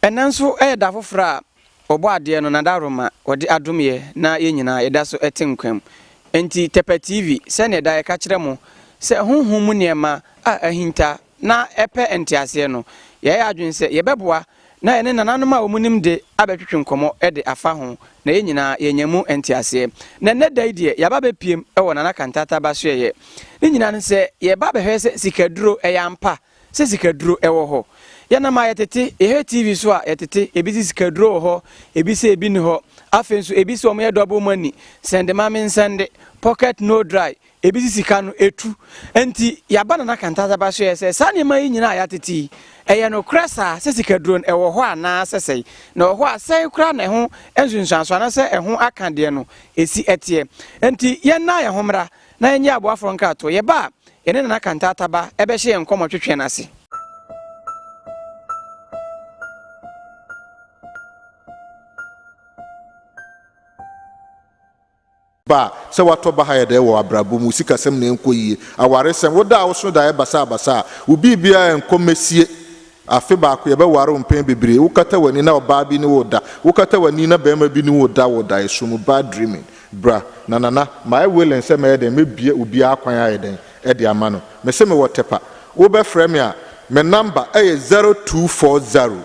Ɛnnɛ nso yɛ da foforɔ a Ɔbɔ adeɛ no n'adaworoma Ɔde adom yɛ na yɛn nyinaa yɛda so te nkwa mu. Enti Tɛpɛ TV sɛdeɛ daa yɛka kyerɛ mo sɛ honhom mu nneɛma a ahinta na ɛpɛ nteaseɛ no, yɛayɛ adwene sɛ yɛbɛboa Na yɛne nananom a wɔnim de abɛtwetwe nkɔmmɔ de afa ho, na yɛn nyinaa yɛanya mu nteaseɛ. Na ɛnnɛ da yi deɛ, yɛaba abɛpiem wɔ Nana Kantata Basoɛyɛ. Ne nyinaa ne sɛ, yɛreba abɛhwɛ sɛ sikaduro ɛyɛ ampa, sɛ sikaduro wɔ hɔ. Yɛnam a yɛtete, yɛhwɛ TV so a yɛtete, ebi se sikaduro wɔ hɔ, ebi se ebi nni hɔ. Afei nso ebi se wɔyɛ double money, sɛnde ma mensɛnde, pocket no dry, Ebi si sika no etu. Enti yɛaba Nana Kantadzaba so yɛ sɛ, saa nneɛma yi nyinaa a yɛatete yi, ɛyɛ nokorɛ saa sɛ sikaduro no ɛwɔ hɔ anaa sɛ sɛe? Na ɛwɔ hɔ a, sɛn koraa na ɛho nsunsuansoɔ anaasɛ ɛho aka deɛ no ɛsi teɛ? Enti yɛnna yɛn ho mmra na yɛnyɛ aboa foforɔ nkratoɔ. Yɛba a, yɛne Nana Kantaataba bɛhyɛ yɛn nkɔmmɔ twetwe no ase. Ba, sɛ woatɔ baha yɛ dɛ wɔ abrabɔ mu, wo sikasɛm na ɛnkɔ yie, awaresɛm, wo da a woso da yɛ basabasa a, wo biribiara nkɔ mɛsie, afe baako yɛbɛware wo mpɛn bebree, wokata w'ani na ɔbaa bi ne wo reda, wokata w'ani na barima bi ne wo reda wɔ daeɛso mu, bad dreaming. Bra, na Nana, mayɛ willing sɛ mɛyɛ dɛn, mɛbue obiara kwan ayɛ dɛn de ama no. Mese mewɔ Tepa. Wobɛfrɛ me a, me number yɛ zero two four zero.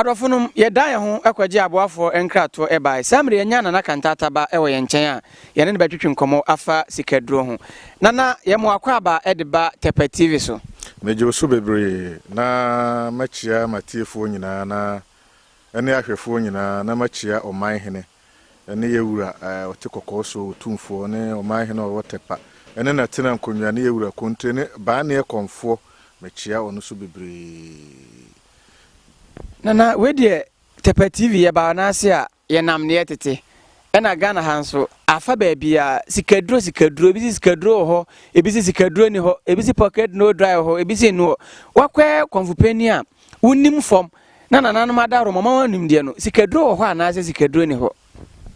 Adɔfonom, yɛdan yɛn ho kɔgyee aboafoɔ nkratoɔ baeɛ. Saa mmerɛ yi yɛanya Nana Kantata ba wɔ yɛn nkyɛn a yɛne no bɛtwetwe nkɔmmɔ afa sikaduro ho. Nana, yɛn mo akwaaba de ba Tɛpɛ TV so. Megye wo so bebree na makyia m'atiefoɔ nyinaa na ɛne ahwɛfoɔ nyinaa na makyia Ɔman Hene ne yɛn wura a ɔte kɔkɔɔ soɔ wɔ Tumfoɔ ne ɔman hene a ɔwɔ Tɛkpa ne n'atena nkonnwa ne yɛn wura Kontre ne Baaneɛ Kɔmfoɔ, mekyea wɔn nso bebree. Nana wei deɛ Tɛkpa TV yɛbaa no ase a yɛnam neɛ tete ɛna Ghana ha nso afa baabiara sikaduro sikaduro ebi se sikaduro wɔ hɔ ebi se sikaduro ni hɔ ebi se pocket no dry wɔ hɔ ebi se no hɔ wakɔɛ kɔmfo panin a wonim fam na nananom adaworo ma wɔn nimdeɛ no, sikaduro wɔ hɔ anaasɛ sikaduro nni hɔ?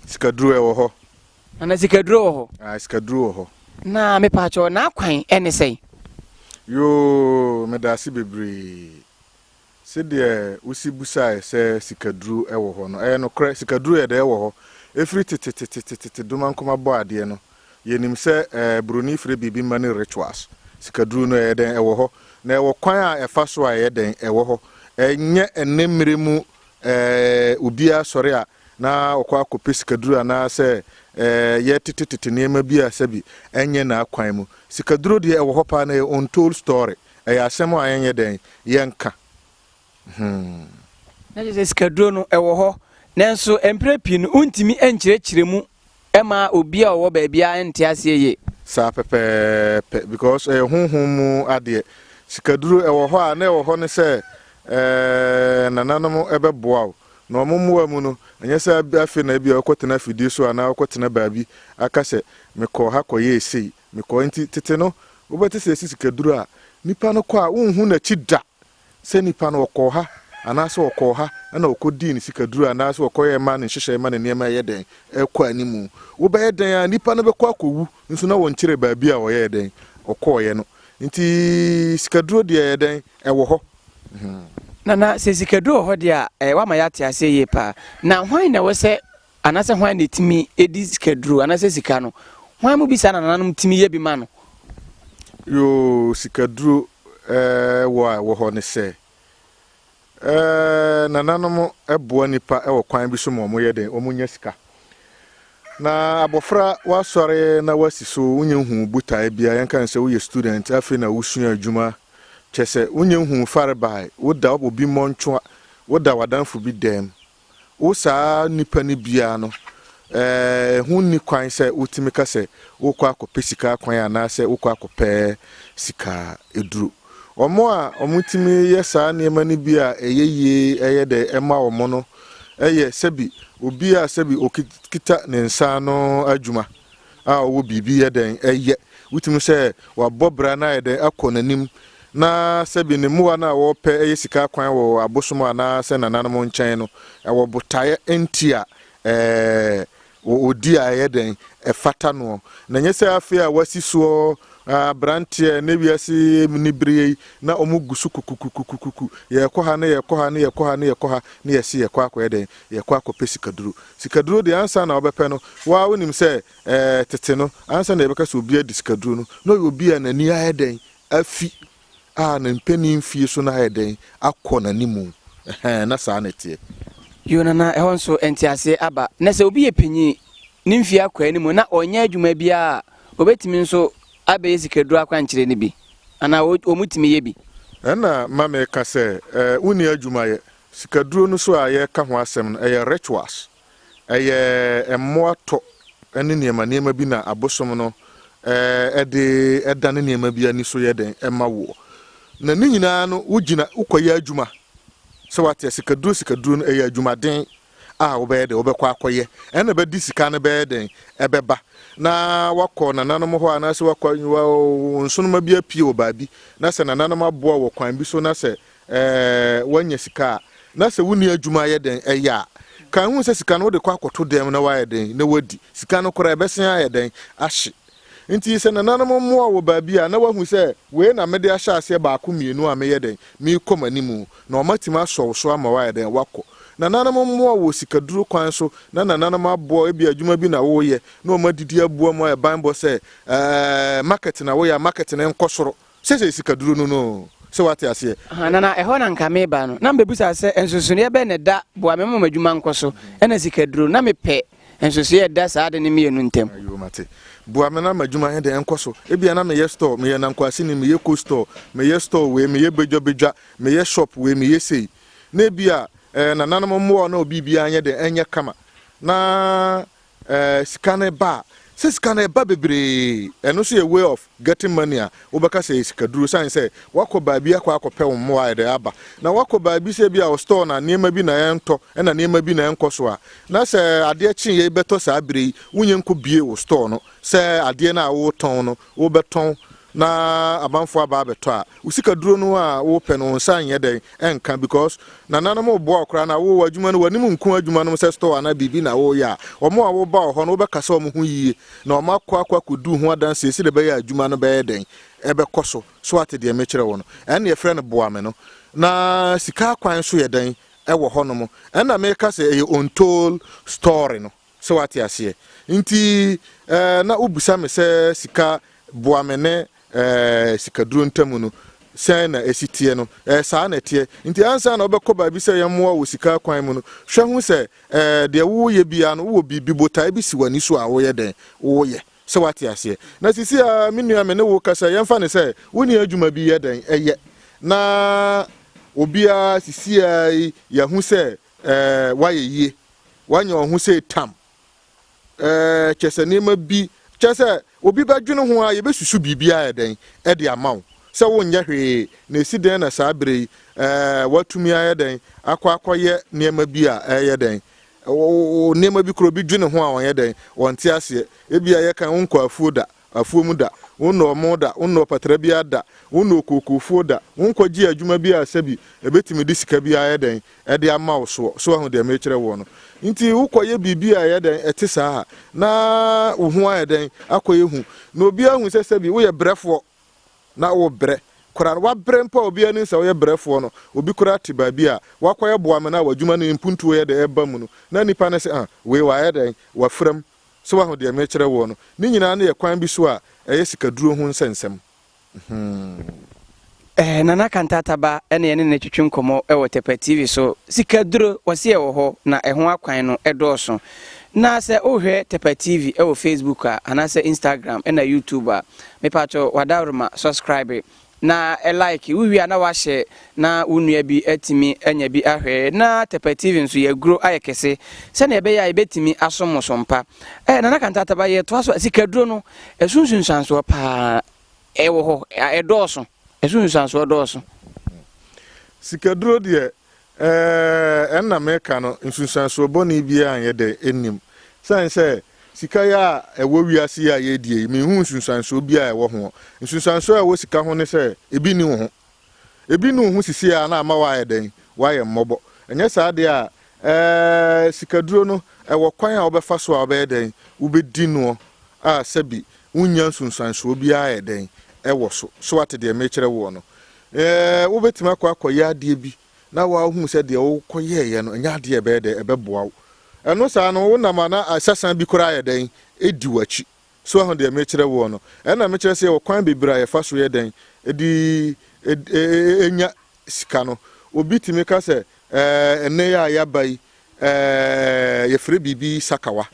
Sikaduro ɛwɔ hɔ. Nana sikaduro wɔ hɔ. Ah, sikaduro wɔ hɔ. Na mepaakyɛw n'akwan ɛne sɛn? Yoo, meda ase bebree. Sɛdeɛ wosi busaeɛ sɛ sikaduro ɛwɔ hɔ no, ɛyɛ nokorɛ, sikaduro yɛ dɛ ɛwɔ hɔ. Ɛfiri tetetetetete Domankoma bɔ adeɛ no, Yɛnim sɛ Buroni frɛ biribi mma no rituals. Sikaduru no, ɛyɛ dɛn? Ɛwɔ hɔ. Na ɛwɔ kwan a ɛfa so a, ɛyɛ dɛn? Ɛwɔ hɔ. Ɛnyɛ ɛnnɛ mmere mu obiara sɔre a na ɔkɔ akɔpɛ sikaduru anaasɛ yɛtetetete nneɛma bi a sɛbi ɛnyɛ n'akwan mu. Sikaduro deɛ, ɛwɔ hɔ paa na ɛyɛ untold story. Ɛyɛ asɛm a yɛnyɛ dɛn? Yɛnka. Hmm. Na kyerɛ sɛ sikaduro no ɛwɔ hɔ. Nanso mprɛ pii no wontumi nkyerɛkyerɛ mu ma obi a ɔwɔ baabi a ɛnte aseɛ yie. Saa pɛpɛɛpɛ because ɛyɛ honhom mu adeɛ. Sikaduro ɛwɔ hɔ a na ɛwɔ hɔ ne sɛ eh, nananom ɛbɛboa wo. Na wɔn mmoa mu no, ɛnyɛ sɛ afei na ebia wokɔtena afidie so anaa wokɔtena baabi aka sɛ mekɔɔ ha kɔyɛɛ sei, mekɔɔ nti tete no wobɛte sɛ yɛsi sikaduro a nipa no kɔ a wonhu n'akyi da. sɛ nipa no ɔkɔɔ ha anaasɛ ɔkɔɔ ha na ɔkɔdii ne sikaduro anaasɛ ɔkɔyɛɛ maa ne nhyehyɛe ma ne nneɛma reyɛ dɛn? rekɔ anim. Wobɛyɛ dɛn ara nipa no bɛkɔ akɔwu nso na wɔnkyerɛɛ baabi a ɔyɛɛ dɛn? ɔkɔeɛ no. Nti sikaduro deɛ ɛyɛ dɛn? Ɛwɔ hɔ. Nana, sɛ sikaduro wɔ hɔ deɛ a, ɛyɛ wo ama yɛate aseɛ yie pa ara. Na hwan na ɛwɔ sɛ Anaasɛ hwan na etumi di sikaduru anaasɛ sika no? Hwan mu bi saa na nananom tumi yɛ bi ma no? Yoo, sikaduru eh, wɔ a ɛwɔ hɔ ne sɛ, eh, nananom boa nnipa wɔ kwan bi so ma wɔyɛ dɛn? Wɔnya sika. Na abɔfra, woasɔre na woasi so, wonnya nhuu botae biara, yɛnka no sɛ woyɛ student, afei na wosua adwuma, kyerɛ sɛ, wonnya nhuu farebae, woda obi mmɔntwoa, woda w'adamfo bi dɛm, Wo saa nnipa no biara no, ɛho nni kwan sɛ wotumi ka sɛ worekɔ akɔpɛ sika akwan anaasɛ wokɔ akɔpɛ sika aduro. Wɔn a wɔtumi yɛ saa nneɛma no bi a ɛyɛ yie ɛyɛ dɛ ɛma wɔn no yɛ sɛbi obi a sɛbi okita ne nsa ano adwuma a ɔwɔ biribi yɛ dɛn yɛ? Wotumi sɛ wabɔ bra na ayɛ dɛn akɔ n'anim, na sɛbi ne mmoa no a wɔpɛ yɛ sika akwan wɔ abosom anaa sɛ nananom nkyɛn no, ɛwɔ botaeɛ nti a ɛɛ ɔdi a ɛyɛ dɛn ɛfata noɔ. Na nyɛ sɛ afei a wasi soɔ abranteɛ ne wiase ni bereɛ yi na wɔn gu so kukukukukuku yɛkɔ ha ne yɛkɔ ha ne yɛkɔ ha ne yɛkɔ ha ne yɛsi yɛkɔ akɔyɛ dɛn yɛkɔ akɔpɛ sikaduro. Sikaduro deɛ ansa na wobɛpɛ no, wo ara wonim sɛ ɛɛ tete no, ansa na yɛbɛka sɛ obi adi sikaduro no, na ɔyɛ obi a n'ani ayɛ dɛn afi, a ne mpanin mfeɛ su no ayɛ dɛn akɔ n'animu. Ɛhɛn, na saa na ɛteɛ. Yoo, na na ɛhɔ nso nteaseɛ aba. Na sɛ obi yɛ panin, ne mfeɛ akɔ anim, na ɔnyɛ adwuma biara a, ɔbɛtumi nso abɛyɛ sikaduro akwankyerɛ no bi, anaa wɔtumi yɛ bi. Ɛnna ma meka sɛ, Ɛɛ, wonni adwuma yɛ. Sikaduro no so a yɛreka ho asɛm no, ɛyɛ rituals. Ɛyɛ mmoa tɔ ne nneɛma nneɛma bi na abosom no de dane nneɛma bi ani so yɛ dɛn ma woɔ. Na ne nyinaa no, wogyina, wokɔyɛ adwuma. Sɛ wate a, sikaduro sikaduro no, ɛyɛ adwumaden a wobɛyɛ dɛn, wobɛkɔ akɔyɛ. Ɛno na ɛbɛde sika no bɛyɛ dɛn, ɛbɛba. Na woakɔ nananom hɔ anaasɛ woakɔ, wo nsoromma bi apue wɔ baabi, na sɛ nananom aboa wo wɔ kwan bi so na sɛ Ɛɛ, woanya sika a, na sɛ wonni adwuma ayɛ dɛn yɛ a? Kae hu sɛ sika no wode kɔ akɔto dɛm na woayɛ dɛn? Na woadi. Sika no koraa ɛbɛsan ayɛ dɛn? Ahye. Enti sɛ nananom mmoa wo wɔ baabi a, na woahu sɛ, Wei na mede ahyɛ aseɛ baako mmienu a meyɛ dɛn? Merekɔ m'anim. Na wɔatumi asɔ wo so ama woayɛ dɛn? Woakɔ. Nananom mmoa wo wɔ sikaduro kwan so, na nananom aboa wo, ebia adwuma bi na woreyɛ, na wɔadidi aboa mu ayɛ banbɔ sɛ, Ɛɛ, market na woyɛ a, market no nkɔ soro. Sɛ sɛ sika duro no no sɛ wate aseɛ. Ahaa na na ɛhɔ na nka meba no na mebɛbusa sɛ nsonsonoeɛ bɛn na ɛda boa me ma m'adwuma nkɔ so ɛna sika duro no na mepɛ nsonsoeɛ a ɛda saa ade no mmienu ntam. Ayoo mate. Boa me na m'adwuma nyɛ dɛn nkɔ so. Ebia na meyɛ store, meyɛ nankwaseni, meyɛ cold store, meyɛ store wei, meyɛ badwa badwa, meyɛ shop wei, meyɛ sei. Na ebia eh, nananom mmoa na obi biara nyɛ dɛn ɛnyɛ kama. Na Eh, sika no ba a, sɛ sika no ba bebree, ɛno nso yɛ way of getting money a wobɛka sɛ ɛyɛ sikaduro, ɛsiane sɛ woakɔ baabi akɔ akɔpɛ wo mmoa a ɛde aba, na woakɔ baabi sɛ ebia wo store na nneɛma bi na ɛntɔ na nneɛma bi na ɛnkɔ so a, na sɛ adeɛ kyeeɛ bɛtɔ saa berɛ yi, wonyɛ nkɔbue wo store no sɛ adeɛ no a woretɔn no wobɛtɔn na abanfoɔ aba abɛtɔ a, wo sikaduro no a wopɛ no wo nsa nyɛ dɛn nka because nananom reboa wo koraa na wo w'adwuma no w'anim nku adwuma nom sɛ store anaa biribi na woreyɛ a, wɔn a woba wɔ hɔ no wobɛka sɛ wɔn ho yie na wɔn akɔ akɔ akɔdu ho adanseɛ sɛdeɛ ɛbɛyɛ a adwuma no bɛyɛ dɛn ɛbɛkɔ so. So ate deɛ mekyerɛ wo no? Ɛnna yɛfrɛ no boa me no. Na sika akwan nso yɛ dɛn ɛwɔ hɔnom. Ɛnna meka sɛ ɛyɛ untold story no. So wate aseɛ? Nti eh, na wobisa me sɛ sika boa me ne eh, sikaduro ntam no sɛn na ɛsi teɛ no eh, saa na ɛteɛ nti ansa na wobɛkɔ baabi sɛ yɛmmoa wɔ sika kwan mu no hwɛ ho sɛ eh, deɛ woyɛ biara no wowɔ biribi botae bi si w'ani so a woyɛ dɛn woyɛ sɛ wate aseɛ na sisi a me nua me ne wo kasa yɛmfa ne sɛ wonni adwuma bi yɛ dɛn ɛyɛ na obiara sisi a yi yɛahu sɛ Eh, wayɛ yie. Wanya wɔn ho sei tam. Eh, kyɛ sɛ nneɛma bi, kyɛ sɛ obi bɛdwene ho a yɛbɛsusu biribi ayɛ dɛn de ama wo sɛ wonyɛ hwee na ɛsi dɛn na saa berɛ yi eh, woatumi ayɛ dɛn akɔ akɔyɛ nneɛma bi a ɛyɛ dɛn nneɛma bi korɔ bi dwene ho a wɔnyɛ dɛn wɔnte aseɛ ebia yɛka wonkɔ afuo da afuom da, wonnɔ ɔmo da, wonnɔ ɔpatra biara da, wonnɔ okookofuo da, wonkɔgyee adwuma bi a sɛbi ɛbɛtumi de sika bi ayɛ dɛn, ɛde ama wo soɔ. So wahu deɛ merekyerɛ woɔ no? Nti wokɔyɛ biribi a ɛyɛ dɛn, ɛte saa a, na wo ho ayɛ dɛn, akɔyɛ hu, na obiara ahu sɛ sɛbi woyɛ brɛfoɔ, na wobrɛ koraa no, woabrɛ mpo a obiara nim sɛ woyɛ brɛfoɔ no, obi koraa te baabi a woakɔyɛ boa me no a w'adwuma no mpuntuo yɛ dɛn ɛba mu no, na nnipa no se ah, wei wayɛ dɛn, wafira mu, So woahu deɛ merekyerɛ woɔ no? Ne nyinaa no yɛ kwan bi so a ɛyɛ sikaduro ho nsɛnsɛm. Mhmm. Ɛɛ, Nana Kantata ba na yɛne no twetwe nkɔmmɔ wɔ Tɛpɛ TV so. Sikaduro, wɔse ɛwɔ hɔ, na ɛho akwan no dɔɔso. Na sɛ wohwɛ Tɛpɛ TV wɔ Facebook a, anaasɛ Instagram na YouTube a, mepatwo w'adaworoma, subscribe. na like wowie a na wahyɛ na wo nua bi atumi anya bi ahwɛ na tɛpɛtivi nso yɛaguro ayɛ kɛse sɛnea ɛbɛyɛ a yɛbɛtumi asom mo so mpa eh, nana kantataba yɛtoa so sikaduro no ɛso nsunsuansoɔ paa ɛwɔ hɔ ɛdɔɔso ɛso nsunsuansoɔ dɔɔso sikaduro deɛ Ɛɛ, ɛno na mereka no, nsunsuansoɔ bɔne biara nyɛ dɛ, nnim. Ɛsiane sɛ sika yɛ a ɛwɔ wiase yi a yɛredie yi, menhuu nsunsuansoɔ biara a ɛwɔ hoɔ. Nsunsuansoɔ a ɛwɔ sika ho ne sɛ, ebi nni wo ho. Ebi nni wo ho seesei ara na ama woayɛ dɛn? Woayɛ mmɔbɔ. Ɛnyɛ saa deɛ a, ɛɛ, sikaduro no, ɛwɔ kwan a wobɛfa so a wobɛyɛ dɛn? Wobɛdi noɔ a sɛbi wonnya nsunsuansoɔ biara a ɛyɛ dɛn? Ɛwɔ so. So woate deɛ merekyerɛ woɔ no? Ɛɛ, wobɛtumi akɔ akɔyɛ adeɛ bi na woahunu sɛ deɛ wokɔyɛeɛ no ɛnyɛ adeɛ a ɛbɛyɛ dɛn? Ɛbɛboa wo. Ɛno saa no, wonam a na asasan bi koraa ayɛ dɛn? Ɛdi w'akyi. So woahu deɛ mekyerɛ woɔ no? Ɛnna mekyerɛ sɛ yɛwɔ kwan bebree a yɛfa so yɛ dɛn? De nya sika no. Obi tumi ka sɛ, Ɛɛ, ɛnnɛ yi a yɛaba yi, Eeh yɛfrɛ biribi sakawa.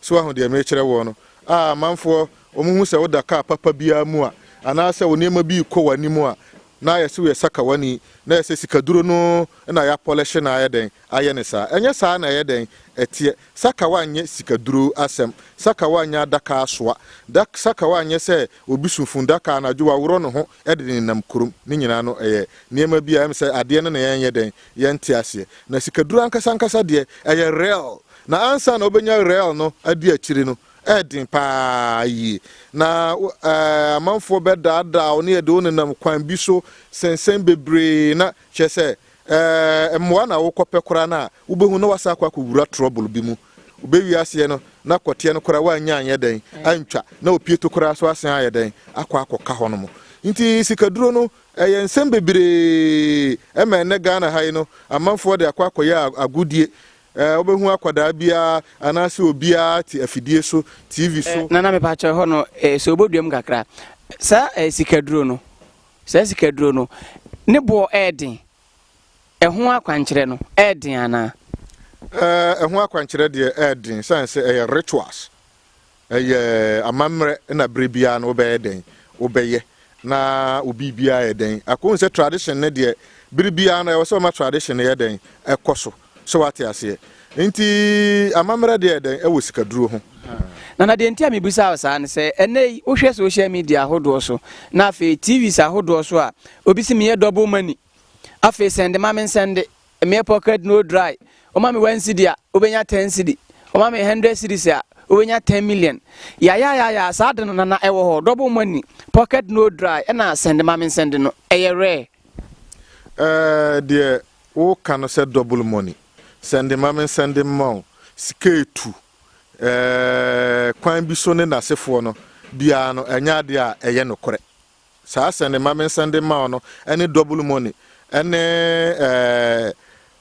So woahu deɛ merekyerɛ woɔ no? A amanfoɔ, wɔhu sɛ woda kaa papa biara mu a, anaasɛ wo nneɛma bi rekɔ w'anim a, na ayɛ sɛ woyɛ sakawani, na ayɛ sɛ sikaduro no na yɛapɔlɛhye no ayɛ dɛn? ayɛ no saa. Ɛnyɛ saa na ɛyɛ dɛn? ɛteɛ. Sakawa nyɛ sikaduro asɛm. Sakawa nyɛ adaka asoa. Da sakawa nyɛ sɛ obi su fundaka anadwo, waworɔ ne ho de nenam kurom. Ne nyinaa no, ɛyɛ nneɛma bi a ɛyɛ me sɛ adeɛ no na yɛnyɛ dɛn? Yɛnte aseɛ. Na sikaduro ankasa ankasa deɛ, ɛyɛ real. Na ansa na wobɛnya real no adi akyire no, ɛyɛ den pa ara yie. Na wo, ɛɛ, amanfoɔ bɛdaadaa wo na yɛde wo nenam kwan bi so sensɛn bebree na, kyerɛ sɛ, ɛɛ, mmoa na worekɔpɛ koraa no a, wobɛhu na woasan akɔ akɔwura trouble bi mu. Wobɛwie aseɛ no, na kɔteɛ no koraa woannya anyɛ dɛn, antwa, na opieto koraa nso asan ayɛ dɛn, akɔ akɔka hɔnom. Nti sikaduro no, Ɛyɛ nsɛm bebree ma ɛnnɛ Ghana ha yi no amanfoɔ de akɔ akɔyɛ agodie. Wobɛhu akwadaa biara anaasɛ obiara te afidie so, TV so. Nana mepakyɛw ɛhɔ no sɛ wobɛduam kakra. Saa sikaduro no, saa sikaduro no ne boɔ ɛɛden, ɛho akwankyerɛ no ɛɛden anaa? Ɛho akwankyerɛ deɛ ɛɛden sane sɛ ɛyɛ rituals. Ɛyɛ amammerɛ na berɛ biara no wobɛyɛ dɛn? Wobɛyɛ na wo biribiara yɛ dɛn? Ako hu sɛ tradition no deɛ bere biara no ɛwɔ sɛ ɔma tradition no yɛ dɛn? Ɛkɔ so. So wate aseɛ? Nti amammerɛ deɛ yɛ dɛn? Ɛwɔ sikaduro ho. Nana deɛ nti a mebisa wo saa ne sɛ ɛnnɛ yi wohwɛ social media ahodoɔ so na afei TVs ahodoɔ so a obi se meyɛ double money afei sɛnde ma mensɛnde. Mmea pocket no dry Woma me one cedi a, wobɛnya ten cedi Woma me hundred cedis a, wobɛnya ten million Yayayaya, saa ade no na na ɛwɔ hɔ Double money, pocket no dry Ɛna sɛnde ma me nsɛnde no, ɛyɛ rare. Eh, deɛ woka no sɛ double money Sɛnde ma me nsɛnde mma wo Sika ɛtu eh, kwan bi so ne n'asefoɔ no Biara no, ɛnyɛ adeɛ a ɛyɛ nokorɛ. Saa sɛ ne mame nsɛn de mma wo no ɛne double money ɛne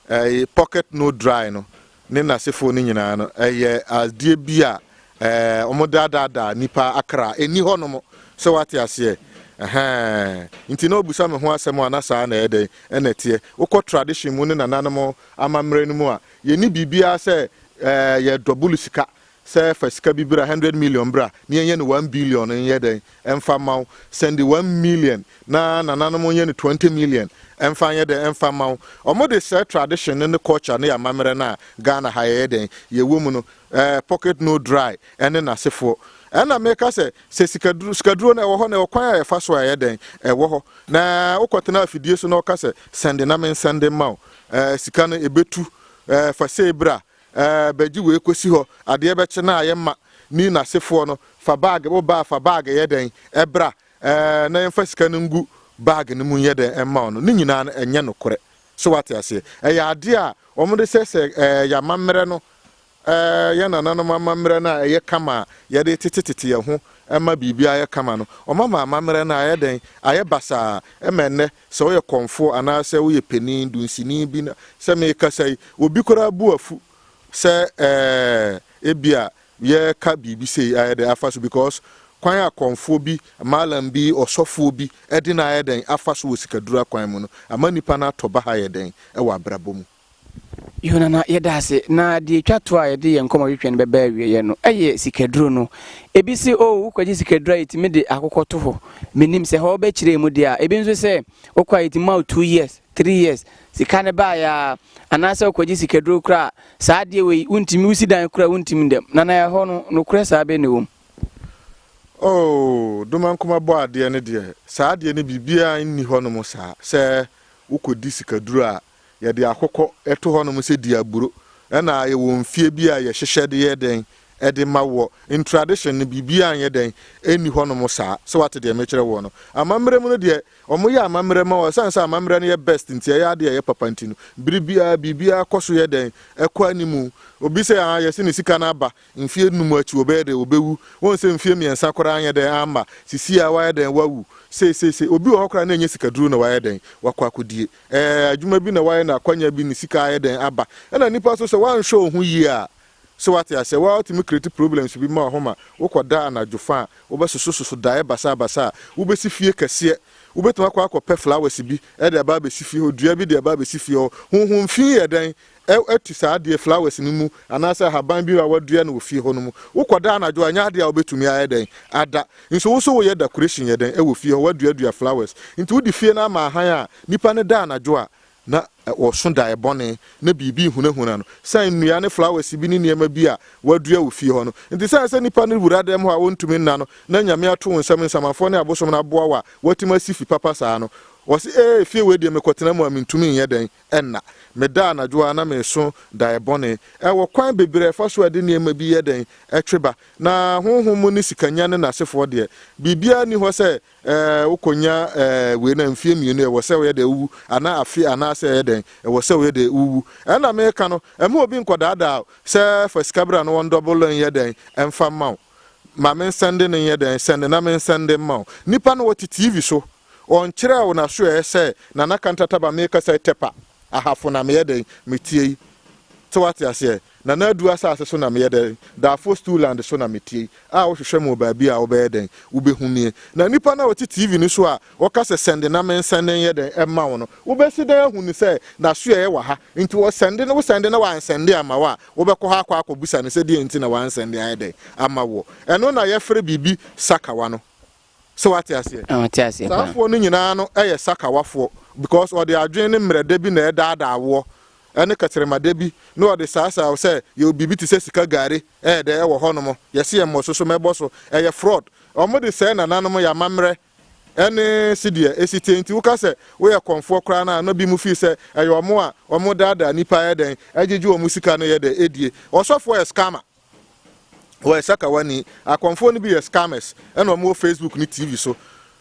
ɛɛ pocket no dry no ne nasefoɔ no nyinaa no ɛyɛ adeɛ bi a ɛɛ wɔn daadaadaa nipa akra ɛni hɔ nom sɛ wate aseɛ ɛhɛn nti na ɔbusa me ho asɛm a na saa na ɛyɛ dɛn ɛna ɛteɛ wokɔ tradition mu ne nananom amammerɛ no mu a yɛni biribiara sɛ ɛɛ yɛ double sika Sɛ fa sika bi bra, hundred million bra na yɛnyɛ no one billion nyɛ dɛn mfa mma wo, sɛnde one million na nananom nyɛ no twenty million mfa nyɛ dɛn mfa mma wo. Ɔmo de sɛɛ tradition no ne culture ne amammerɛ no a Ghana ha yɛyɛ dɛn yɛwɔ mu no ɛɛ pocket no dry ɛne nasefoɔ. Ɛna meka sɛ sɛ sikaduro sikaduro no ɛwɔ hɔ na ɛwɔ kwan a yɛfa so a ɛyɛ dɛn ɛwɔ hɔ na wokɔ tena afidie so na ɔka sɛ sɛnde na mensɛnde mma wo ɛɛ sika no ɛbɛtu ɛɛ fa sei bra Ɛɛ bɛgye wei kɔsi hɔ adeɛ bɛkye no a yɛ mma ni nasefoɔ no fa bag wo baa fa bag yɛ dɛn ɛbra ɛɛ na yɛnfa sika no ngu bag no mu nyɛ dɛn ɛmma wo no ne nyinaa no ɛnyɛ nokorɛ so wate aseɛ ɛyɛ adeɛ a wɔn de sɛsɛ ɛɛ yɛ amammerɛ no ɛɛ yɛ nananom amammerɛ no a ɛyɛ kama a yɛde tete tete yɛ ho ɛma biribi ayɛ kama no wɔn ama amammerɛ no ayɛ dɛn ayɛ basaa ɛma ɛnnɛ Sɛ woyɛ kɔmfoɔ anaasɛ woyɛ panin, dunsini bi na sɛ merekasa yi, obi koraa bu afu sɛ ɛɛ ebia yɛreka biribi sei ayɛ dɛn afa so because kwan a kɔmfoɔ bi, malam bi, ɔsɔfoɔ bi de no ayɛ dɛn afa so wɔ sikadura kwan mu no ama nnipa no atɔ baha yɛ dɛn wɔ abrabɔ mu. Yonana, yɛda ase. Na deɛ ɛtwa toɔ a yɛde yɛn nkɔmmɔtwetwe no bɛba awieeɛ no yɛ sikaduro no. Ebi se, Oh, wokɔgye sikaduro a, yɛtumi de akokɔ to hɔ. Mennim sɛ hɔ bɛkyerɛ mu deɛ a. Ebi nso sɛ, wokɔ a yɛtumi ma wo two years, three years. Sika no baeɛ ara. Anaasɛ wokɔgye sikaduro koraa a, saa adeɛ wei, wontumi, wosi dan koraa a, wontumi da mu. Nana, ɛhɔ no, nokorɛ saa bɛn na ɛwɔ mu? Oh, Domankoma Bɔadeɛ no deɛ, saa adeɛ no biribiara nni hɔnom saa. Sɛ wokɔdi sikaduro a, Yɛde akokɔ to hɔnom sɛ diaburo na yɛwɔ mfeɛ bi a yɛhyehyɛ de yɛ dɛn? De ma woɔ. In tradition no biribiara nyɛ dɛn? Nni hɔnom saa. Sɛ woate deɛ mekyerɛ woɔ no. Amammerɛ mu no deɛ, wɔyɛ amammerɛ ma wo. Ɛsiane sɛ amammerɛ no yɛ best nti, ɛyɛ adeɛ a ɛyɛ papa nti no, bere biara biribiara kɔ so yɛ dɛn? Ɛkɔ anim. Obi sɛ aah yɛasi ne sika no aba, mfeɛ nnum akyi ɔbɛyɛ dɛn? Ɔbɛwu. Woahu sɛ mfeɛ mmiɛnsa koraa anyɛ dɛn amma, sesie ara woayɛ dɛn? Woawu. Sei sei sei. Obi wɔ hɔ koraa a na ɛnyɛ sikaduro na wayɛ dɛn? Wakɔ akɔdie. Ɛɛ, adwuma bi na wayɛ na akwanya bi ne sika ayɛ dɛn aba. Ɛna nnipa nso sɛ woanhwɛ wo ho yie a, so wate aseɛ, wo ara wotumi create problems bi ma wo ho ma wokɔda anadwo fa a, wobɛsosososo daeɛ basabasa a, wobɛsi fie kɛseɛ. Wobɛtumi akɔ akɔpɛ flowers bi de aba abɛsi fie hɔ, dua bi de aba abɛsi fie hɔ. Honhom fi yɛ dɛn? Ɛ atu saa adeɛ, flowers, no mu anaasɛ ahaban bi a wɔadua no wɔ fie hɔ no mu. Wokɔ da anadwo a, ɛnyɛ adeɛ a wobɛtumi ayɛ dɛn ada. Nso wo nso woyɛ decoration yɛ dɛn wɔ fie hɔ, woaduadua flowers. Nti wode fie no ama ahan a nnipa no da anadwo a, na wɔso daeɛ bɔne, na biribi rehunahuna no, sane nnua ne flowers bi ne nneɛma bi a woadua wɔ fie hɔ no. Nti sane sɛ nnipa no wura dan mu hɔ a wɔntumi nna no, na Nyame ato wo nsam, nsamanfoɔ ne abosom no aboa wo a, woatumi asi fi papa saa no. Wɔse, Ee, fie wei deɛ mekɔtena mu a mentumi nyɛ dɛn. Ɛnna, meda anadwo ara na mereso dae bɔne. Ɛwɔ kwan bebree a ɛfa so a ɛde nneɛma bi yɛ dɛn? Ɛtwe ba. Na honhom mu ne sikanya ne n'asefoɔ deɛ, biribiara nni hɔ sɛ ɛɛ wokɔnya ɛɛ wei na mfeɛ mmienu ɛwɔ sɛ woyɛ dɛn wowu, anaa afe anaasɛ ɛyɛ dɛn ɛwɔ sɛ woyɛ dɛn wowu. Ɛnna mereka no, mma obi nkɔdaadaa wo sɛ fa sika bra na wɔndɔbolo nyɛ dɛn mfa mma wo. Ma mensɛnde no nyɛ dɛn, sɛnde na mensɛnde mma wo. Nnipa no wɔte TV so Ɔnkyerɛɛ wo n'asoɛeɛ sɛ, Nana Kantataba, merekasa yi, Tɛpa, Ahafo na meyɛ dɛn, metie yi. Sɛ woate aseɛ? Nana Adu asase so na meyɛ dɛn, Darfur Stuland so na metie yi, a wohwehwɛ me wɔ baabi a wobɛyɛ dɛn, wobɛhu nie. Na nnipa no a wɔte TV no so a wɔka sɛ, Sɛnde na mensɛnde nyɛ dɛn mma wo no, wobɛsi dɛn ahu no sɛ n'asoɛeɛ wɔ ha? Enti wɔsɛnde no, wosɛnde na wansɛnde amma wo a, wobɛkɔ hɔ akɔ akɔbisa no sɛ deɛn nti na wansɛnde ayɛ dɛn amma woɔ. Ɛno na yɛfrɛ biribi sakawa no. So wate aseɛ? Ɔte aseɛ paa. Saa foɔ no nyinaa no yɛ sakawafoɔ because ɔde adwene ne mmerɛdɛ bi na ɛredaadaa woɔ ɛne kɛtrɛmadɛ bi na ɔde saasaa wo sɛ yɛwɔ biribi te sɛ sika gari ɛyɛ dɛ ɛwɔ hɔ nom yɛse yɛ mmɔ so so mɛbɔ so ɛyɛ fraud wɔn de sɛɛ nananom yɛ amammerɛ ɛne sedeɛ ɛsi tie nti woka sɛ woyɛ kɔnfoɔ koraa no a na bi mu fii sɛ ɛyɛ wɔn a wɔn daadaa nipa ɛyɛ dɛn ɛgyegye wɔn sika no yɛ dɛ ɛdie ɔsɔfoɔ yɛ scammer. Wɔyɛ sakawani. Akɔmfoɔ no bi yɛ scammers ɛna wɔn wɔ Facebook ne TV so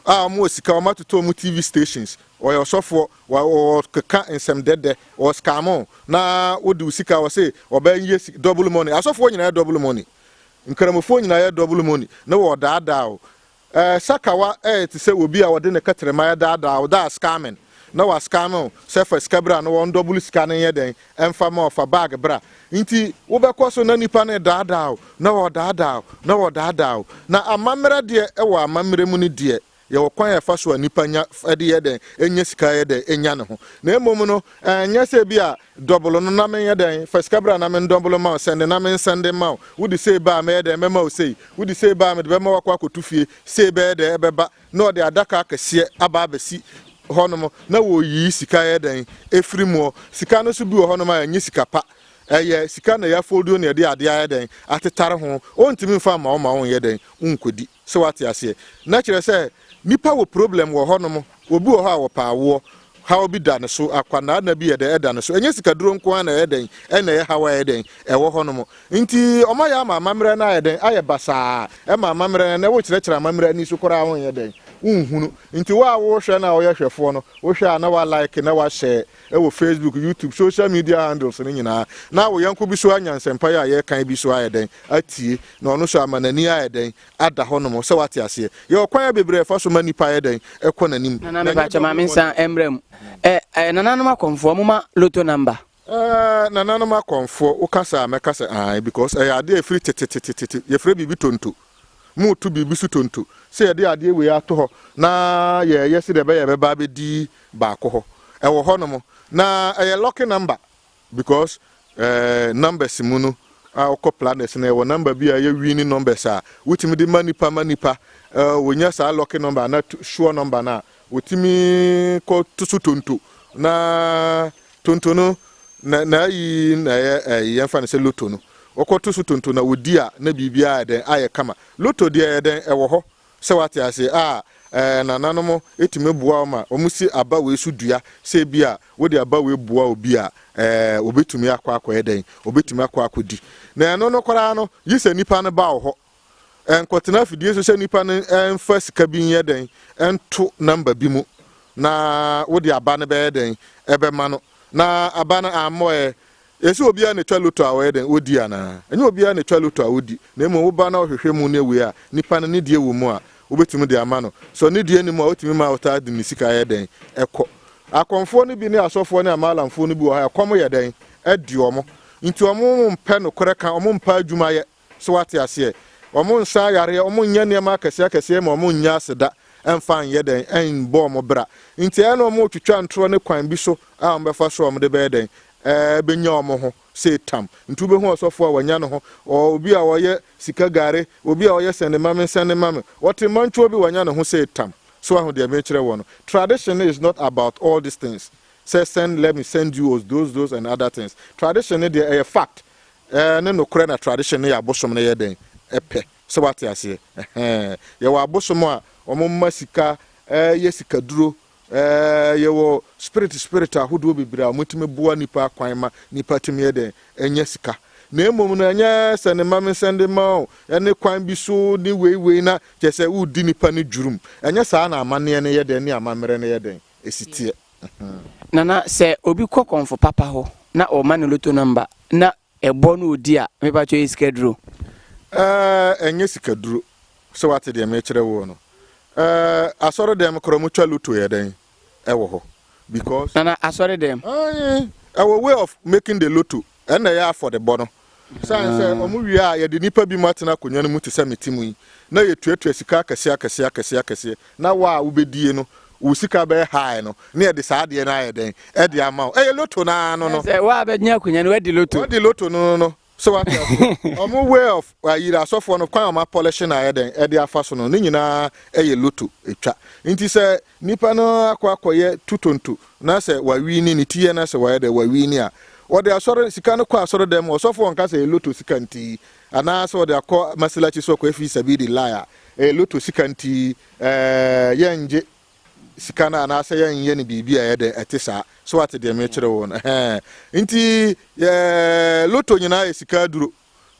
a wɔn wɔ sika wɔn atotɔ wɔn TV stations. Wɔyɛ ɔsɔfoɔ wɔ wɔ keka nsɛm dɛdɛ wɔ scam o na wode wo sika wɔ se wɔbɛ yɛ si double money. Asɔfoɔ nyina yɛ double money. Nkramofoɔ nyina yɛ double money ne wɔ daadaa o Ɛɛ, Sakawa yɛ te sɛ obi a wɔde ne kɛtrɛma redaadaa wo, thus scamming, na wa-scam wo sɛ fa sika bra na wɔndɔbolo sika no nyɛ dɛn, ɛmfa mma wo, fa bag bra. Nti wobɛkɔ so na nnipa no redaadaa wo, na wɔredaadaa wo, na wɔredaadaa wo. Na amammerɛ deɛ, wɔ amammerɛ mu no deɛ, yɛwɔ kwan a yɛfa so a nnipa nya, ɛde yɛ dɛn, nya sika yɛ dɛn, nya ne ho. Na mmom no, ɛnyɛ sɛ ebia Dɔbolo no na menyɛ dɛn? Fa sika bra na mendɔbolo mma wo, sɛnde na mensɛnde mma wo. Wode sei ba a, mɛyɛ dɛn? Mɛma wo sei. Wode sei ba a, mede bɛma woakɔ akɔto fie. Sei bɛyɛ dɛn? Ɛbɛba na wɔde adaka akɛseɛ aba abɛsi hɔnom, na wɔreyiyi sika yɛ dɛn? Afiri muɔ. Sika no nso bi wɔ hɔnom a, ɛnyɛ sika pa. Ɛyɛ sika na yɛafolduo na yɛde adeɛ ayɛ dɛn? Atetare ho. Wɔntumi mfa mma wo ma wonyɛ dɛn? Wonkɔdi. So wate aseɛ? Na kyerɛ sɛ, nipa wɔ problem wɔ hɔ nom, obi wɔ hɔ a ɔpɛ awoɔ, haw bi da ne so, akwanaa nna bi yɛ dɛn ɛda ne so, ɛnyɛ sikaduro nko ara na ɛyɛ dɛn ɛna ɛyɛ haw a ɛyɛ dɛn ɛwɔ hɔ nom, nti wɔn ayɛ ama amamerɛ no ayɛ dɛn ayɛ basaa ɛma amamerɛ no ɛnɛ wo kyerɛkyerɛ amamerɛ ani so koraa wo nyɛ dɛn wo nhunu, nti wo a wo hwɛ no a wo yɛ hwɛfoɔ no wo hwɛ a na wa like na wa share. wɔ Facebook, YouTube, social media handles no nyinaa, na wo yɔnko bi so anya nsɛmpa yi a yɛrekan bi so ayɛ dɛn atie, na ɔno nso ama n'ani ayɛ dɛn ada hɔnom, sɛ wate aseɛ. Yɛwɔ kwan bebree a yɛfa so ma nnipa yɛ dɛn kɔ n'anim. Nana me pakyɛ ma me nsa mmra mu. Eh eh nananom akɔmfoɔ mo ma loto number. Eh nananom akɔmfoɔ wo kasa a mɛka sɛ ae because ɛyɛ adeɛ a ɛfiri tetetetete yɛfrɛ biribi tonto. Moreto biribi so tonto sɛ yɛde adeɛ wei ato hɔ na yɛreyɛ sɛdeɛ ɛbɛyɛ a ɛbɛba abɛdi baako hɔ. Ɛwɔ hɔnom na ɛyɛ lucky number because eh, numbers mu no a wokɔ planets no ɛwɔ number bi a ɛyɛ winning numbers a wotumi de ma nipa ma nipa eh, wɔnya saa lucky number anaa sure number no a Wɔtumi kɔ to so tonto, na tonto no n'ayi na ɛyɛ yɛmfa no sɛ loto no. Wɔkɔ to so tonto na wɔdi a na biribiara ayɛ dɛn? Ayɛ kama. Loto deɛ ɛyɛ dɛn? Ɛwɔ hɔ. Sɛ wate aseɛ a, nananom tumi boa wo ma wɔsi aba wei so dua. Sɛ ebia wode aba wei boa obi a, wɔbɛtumi akɔ akɔyɛ dɛn? Wɔbɛtumi akɔ akɔdi. Na ɛno no koraa no, gye sɛ nipa no ba wo hɔ Nkɔtena afidie so sɛ nnipa no mfa sika bi nyɛ dɛn nto number bi mu na wode aba no bɛyɛ dɛn ɛbɛma no na aba no ammɔ ɛ. Ɛsɛ obiara na ɛtwa loto a ɔyɛ dɛn ɔdi anaa? Ɛnyɛ obiara na ɛtwa loto a ɔdi na mmom woba na wohwehwɛ mu ne wei a nnipa no ne deɛ wɔ mu a wobɛtumi de ama no. Sɛ ɔne deɛ nni mu a wotumi ma wotaa de ne sika yɛ dɛn kɔ. Akɔmfoɔ no bi ne asɔfoɔ ne amaalamfoɔ no bi wɔ ha a ɛkɔm yɛ dɛn de wɔn nti wɔn mpɛ nokorɛ ka, wɔn mpɛ adwuma yɛ. So woate aseɛ? Wɔnsa ayareɛ, wɔnyɛ nneɛma akɛseɛ akɛseɛ ma wɔnnya aseda mfa nyɛ dɛn? Mmɔ wɔn bra. Nti ɛyɛ na wɔretwitwa ntorɔ ne kwan bi so a wɔbɛfa so a wɔde bɛyɛ dɛn? Bɛnya wɔn ho sei tam. Nti wobɛhu ɔsɔfoɔ a wanya ne ho, obi a ɔyɛ sika gare, obi a ɔyɛ sɛne ma me, sɛne ma me. Wɔte mmɔntwoɔ bi wanya ne ho sei tam. So woahu deɛ merekyerɛ woɔ no? Tradition is not about all these things sɛ send, let me send you, os, those, those and other things. Tradition no deɛ ɛyɛ fact. Ɛɛ ne nokorɛ na tradition ne yɛ abosom no yɛ dɛn pɛ sɛ wate aseɛ ɛhɛɛ yɛwɔ abosom a wɔn mma sika ɛɛ yɛ sika duro ɛɛ yɛwɔ spirit spirit ahodoɔ bebree a wɔn tumi boa nipa kwan ma nipa tumi yɛ dɛn ɛnya sika na mmom no ɛnyɛ sɛ ne mma me sɛnde ma o ɛne kwan bi so ne wei wei na kyɛ sɛ wodi nipa ne dwurum ɛnyɛ saa na amanneɛ no yɛ dɛn ne amammerɛ no yɛ dɛn ɛsiteɛ. Nana sɛ obi kɔ kɔnfo papa hɔ na ɔma no loto nɔmba na ɛbɔ na ɔdi a mepakyɛ ɛyɛ sikaduro? Ɛɛ ɛnyɛ sikaduro sɛ wate deɛ mekyerɛ woɔ no ɛɛ asɔre dɛm korɔ mo twa loto yɛ dɛn ɛwɔ hɔ because. Nana asɔre dɛm. Aye ɛwɔ way of making the loto Ɛnna ɛyɛ afɔrebɔ no. Esiane sɛ wɔwie a yɛde nnipa binom atena akonnwa no mu te sɛ mete mu yi, na yetuatua sika akɛseɛ akɛseɛ akɛseɛ akɛseɛ, na wo a wobɛdie no, wo sika bɛyɛ high no, na yɛde saa adeɛ no ayɛ dɛn? de ama wo. Ɛyɛ loto no ara no no. Sɛ wo a bɛgyina akonnwa no, woadi loto. Woadi loto no no no. So wate aseɛ? Wɔn way of ayiri asɔfoɔ no, kwan a wɔapɔlehye no ayɛ dɛn de afa so no, ne nyinaa yɛ loto twa. Enti sɛ Nipa no akɔ akɔyɛ tutonto na sɛ wawini ne ti yɛ na sɛ wayɛ dɛ wawini a, wɔde asɔre sika no kɔ asɔre dɛm, ɔsɔfo ɔnka sɛ ɛyɛ loto sika nti anaa sɛ ɔde akɔ masilaci sɛ ɔkɔyɛ fii sabili lae a, ɛyɛ loto sika nti ɛɛ yɛ ngye sika no anaa sɛ yɛ nyɛ no biribi a ɛyɛ dɛ ɛte saa, so wate deɛ mekyerɛ wo no ɛhɛɛ, nti ɛɛ loto nyinaa yɛ sika aduro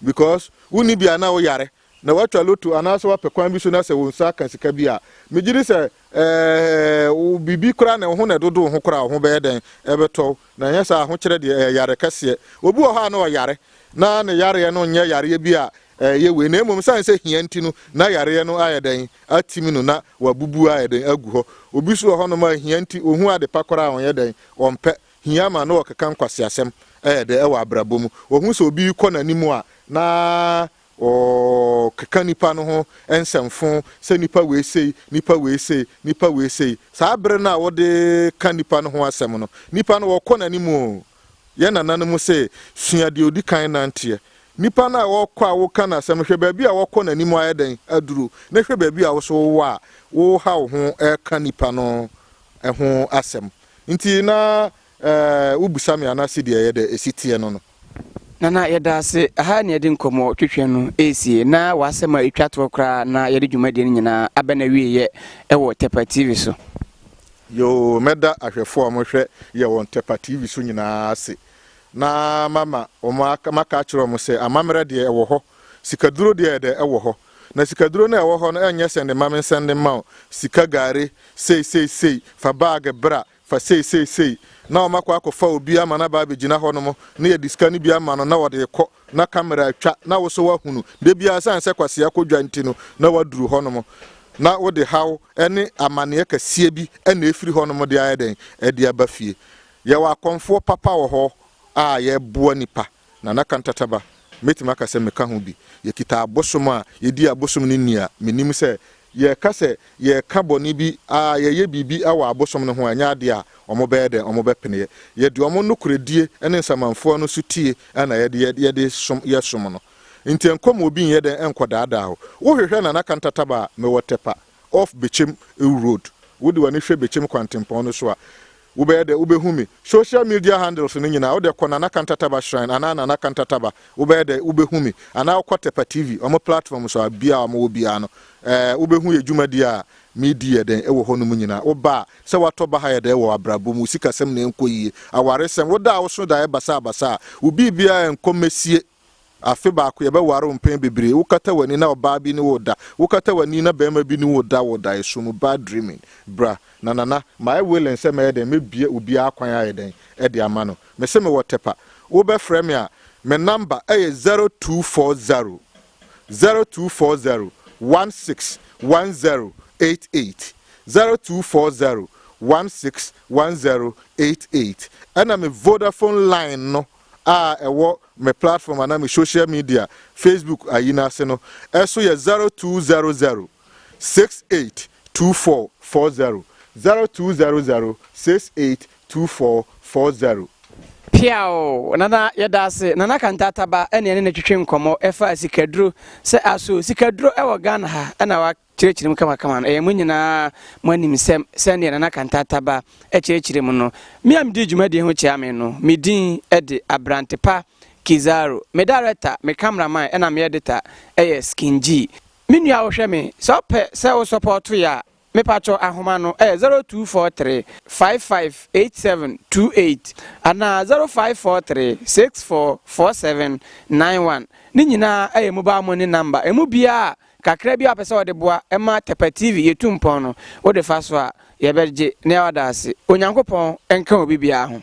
because wo nni bi a na wo yare. na wɔatwa loto anaasɛ wɔapɛ kwan bi so na sɛ wo nsa ka sika bi a, megye di sɛ, ɛɛ, wo biribi koraa na wo ho na ɛdodo wo ho koraa a, wo ho bɛyɛ dɛn? Ɛbɛtɔ wo. Na anyɛ saa a, ahokyerɛ deɛ, ɛyɛ yare kɛseɛ. Obi wɔ hɔ a na ɔyare, na ne yareɛ no nyɛ yareɛ bi a ɛyɛ wei, na mmom ɛsiane sɛ hia nti no, na yareɛ no ayɛ dɛn? Atim no, na wabubu ayɛ dɛn? Agu hɔ. Obi nso wɔ hɔnom a, hia nti, ɔhu ade pa koraa a, ɔnyɛ dɛn? Ɔmpɛ. Hia ma na ɔkeka nkwaseasɛm, ɛyɛ dɛ, wɔ abrabɔ mu. Ɔhu sɛ obi rekɔ n'anim a, na Wɔkeka nnipa no ho nsɛmfõ sɛ nnipa wei sei, nnipa wei sei, nnipa wei sei. Saa bere no a wɔde ka nnipa no ho asɛm no, nnipa no wɔkɔ n'anim o. Yɛn nananom se, Sua deɛ ɔdi kan nanteɛ. Nnipa no a wɔkɔ a woka no asɛm no, hwɛ baabi a wɔkɔ n'anim ayɛ dɛn aduru, na hwɛ baabi a wo nso wowɔ a woreha wo ho reka nnipa no ho asɛm. Enti na wobisa me ana sedeɛ ɛyɛ dɛ ɛsi teɛ no no. Nana yɛda ase, aha ne yɛde nkɔmmɔ twetwɛ no ɛresie na w'asɛm a ɛtwa toɔ koraa na yɛde dwumadie no nyinaa aba no awieɛ ɛwɔ Tɛpa TV so. Yoo, mɛda ahwɛfoɔ a wɔhwɛ yɛ wɔ Tɛpa TV so nyinaa ase na mama wɔn aka, maka akyerɛ wɔn sɛ amammerɛ deɛ ɛwɔ hɔ, sikaduro deɛ ɛdɛ ɛwɔ hɔ. Na sikaduro no a ɛwɔ hɔ no ɛnyɛ sɛnde ma me nsɛnde mma wo, sika gari, sei sei sei, fa baage bra, Fa sei sei sei na wɔn akɔ akɔfa obi ama no aba abɛgyina hɔ nom na yɛde sika no bi ama no na wɔde rekɔ na camera atwa na wo so woahunu da biara sane sɛ kwasea kɔ dwa nti no na woaduru hɔ nom na wode haw ne amaneɛ kɛseɛ bi na ɛfiri hɔ nom de ayɛ dɛn de aba fie. Yɛwɔ akɔmfoɔ papa wɔ hɔ a yɛboa nipa. Nana Kantataba, Mɛtumi aka sɛ meka ho bi. Yɛkita abosom a yɛdi abosom no nni a, menim sɛ yɛreka sɛ yɛreka bɔne bi a yɛyɛ biribi wɔ abosom no ho a, ɛnyɛ adeɛ a wɔbɛyɛ dɛn, wɔbɛpeneɛ. Yɛde wɔn nokorɛdie ne nsamanfoɔ no sotie na yɛde yɛ som no. Nti ɛnkɔm obi nyɛ dɛn nkɔdaadaa wo. Wohwehwɛ Nana Kantataba a, mewɔ Tɛpa. Off Bekyem Ewu Road, Wode w'ani hwɛ Bekyem kwantempɔn no so a, wobɛyɛ dɛ wobɛhu me. Social media handles no nyinaa, wode kɔ Nana Kanta Taba Shrine anaa Nana Kanta Taba, wobɛyɛ dɛ wobɛhu me. Anaa wokɔ Tepa TV, wɔn platform so a, bia a wɔwɔ biara no, eh, wobɛhu yɛ dwumadi a medi yɛ dɛn ɛwɔ hɔ no mu nyinaa. Woba a, sɛ woatɔ baha yɛ dɛn wɔ w'abrabɔ mu, wo sikasɛm na ɛnkɔ yie, awaresɛm, wo da a woso daeɛ basaa basaa, wo biribiara ɛnkɔ mɛsie. Afe baako, yɛbɛware wo mpɛn bebree, wokata w'ani na ɔbaa bi ne wo reda, wokata w'ani na barima bi ne wo reda wɔ daeɛso mu, bad dreaming. Bra, na Nana, mayɛ willing sɛ mɛyɛ dɛn, mɛbue obiara kwan ayɛ dɛn, de ama no. Mese mewɔ Tepa. Wobɛfrɛ me a, me namba yɛ zero two four zero, zero two four zero, one six one zero eight eight, zero two four zero, one six one zero eight eight, ɛna me Vodafone line no a ɛwɔ me platform anaa me social media Facebook ayi no ase no ɛso yɛ zero two zero zero six eight two four four zero zero two zero zero six eight two four four zero. Piaw! Nana yɛda ase. Nana Kanta Ataba ɛne yɛne no twetwe nkɔmmɔ ɛfa sikaduro sɛ aso sikaduro ɛwɔ Ghana ha ɛna wa. Kyerɛkyerɛ mu kamakama no. Ɛyɛ mo nyinaa mo anim sɛ, sɛdeɛ Nana Kantata-Ba kyerɛkyerɛ mu no, me a medii dwumadie ho kyea me no, me din de Abrantepa Kidzaro. Me director, me cameraman ɛna me editor yɛ Skin G. Me nua wohwɛ me, sɛ wopɛ sɛ wo sɔpɔɔto yɛ a, mepakyɛw ahoma no ɛyɛ 0243 558728 anaa 0543 644791. Ne nyinaa yɛ mobile money number. Ɛmu biara a. Kakra bi a wopɛ sɛ wɔde boa ma Tɛpɛ TV yɛ tu mpɔn no, wode fa so a, yɛbɛgye na yɛada wo ase. Onyankopɔn nka obi biara ho.